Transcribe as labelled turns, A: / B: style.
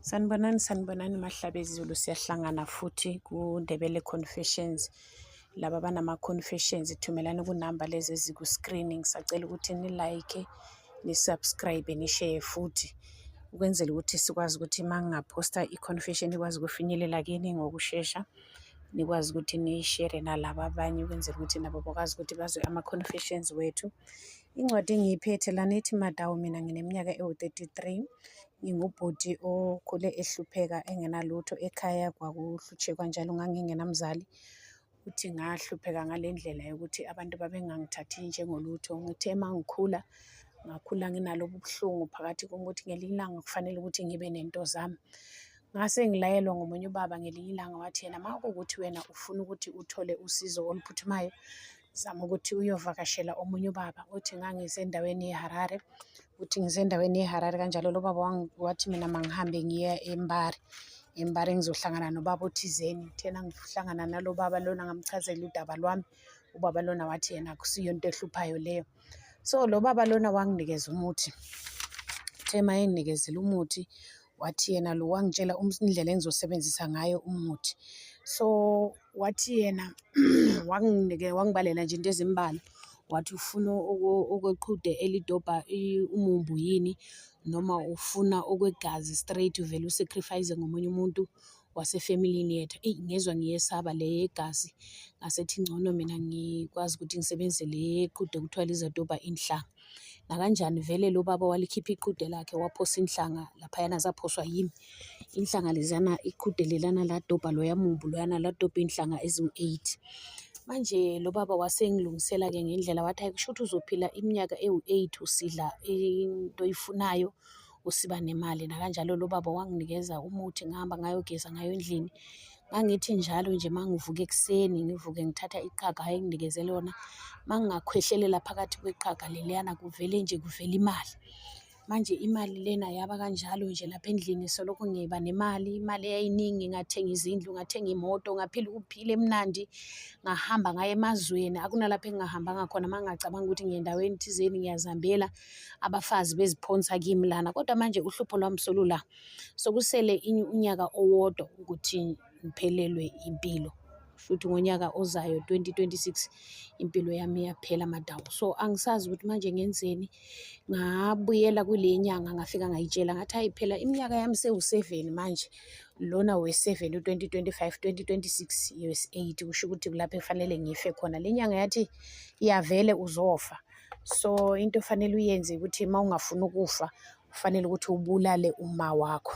A: Sanibonani sanibonani mahlabe ezulu siyahlangana futhi kuNdebele Confessions laba banama confessions thumelani kunamba lezi eziku screen ngisacela ukuthi ni like ni subscribe ni share futhi ukwenzela ukuthi sikwazi ukuthi mangingaphosta i confession ikwazi ukufinyelela kini ngokushesha nikwazi ukuthi niyishere nalaba abanye ukwenzela ukuthi nabo bakwazi ukuthi bazwe ama confessions wethu Incwadi engiyiphethe lana ithi Madawu mina ngineminyaka ewu-33 ngingubhuti okhule ehlupheka engenalutho ekhaya kwakuhlutshekwa njalo ngangingenamzali futhi ngahlupheka ngale ndlela yokuthi abantu babengangithathi njengolutho ngithe uma ngikhula ngakhula nginalobu buhlungu phakathi kokuthi ngelinye ilanga kufanele ukuthi ngibe nento zami ngase ngilayelwa ngomunye ubaba ngelinye ilanga wathi yena uma kuwukuthi wena ufuna ukuthi uthole usizo oluphuthumayo zama ukuthi uyovakashela omunye ubaba uthi ngangisendaweni yeharare uthi ngisendaweni yeharare kanjalo lo baba wathi mina mangihambe ngiye embari embari ngizohlangana nobaba othizeni thena ngihlangana nalo baba lona ngamchazela udaba lwami ubaba lona wathi yena akusiyo into ehluphayo leyo so lo baba lona wanginikeza umuthi uthe ma enginikezile umuthi wathi yena lo wangitshela indlela engizosebenzisa ngayo umuthi so wathi yena wanginike wangibalela nje into ezimbalwa wathi ufuna okweqhude elidobha umumbu yini noma ufuna okwegazi straight uvele usacrifice ngomunye umuntu wasefamilini yethu eyi ngezwa ngiyesaba le yegazi ngasethi ngcono mina ngikwazi ukuthi ngisebenzise le yeqhude kuthiwa lizodobha inhlanga. nakanjani vele lo baba walikhipha iqude lakhe waphosa inhlanga laphayana zaphoswa yimi inhlanga leziyana iqude lelana ladobha loya mumbu loyana ladobha iy'nhlanga eziwu-eight manje lo baba wasengilungisela-ke ngendlela wathi hayi kusho ukuthi uzophila iminyaka ewu-eight usidla into oyifunayo usiba nemali nakanjalo lo baba wanginikeza umuthi ngihamba ngayogeza ngayo endlini ngangithi njalo nje uma ngivuka ekuseni ngivuke ngithatha iqhaga ayenginikeze lona uma ngingakhwehlelela phakathi kweqhaga leliyana kuvele nje kuvele imali manje imali lena yaba kanjalo nje lapha endlini solokhu ngiba nemali imali eyayiningi ngathenga izindlu ngathenga imoto ngaphila ukuphila emnandi ngahamba ngaye emazweni akunalapho engingahambanga khona uma ngingacabanga ukuthi ngiyendaweni thizeni ngiyazihambela abafazi beziphonsa kimi lana kodwa manje uhlupho lwami solula sokusele unyaka owodwa ukuthi ngiphelelwe impilo futhi ngonyaka ozayo 2026 impilo yami iyaphela madawu so angisazi ukuthi manje ngenzeni ngabuyela kule nyanga ngafika ngayitshela ngathi hayi phela iminyaka yami sewu-seven manje lona we-seven u-2025 2026 us 8 kusho ukuthi kulapho efanele ngife khona le nyanga yathi iyavele uzofa so into ofanele uyenze ukuthi uma ungafuni ukufa kufanele ukuthi ubulale uma wakho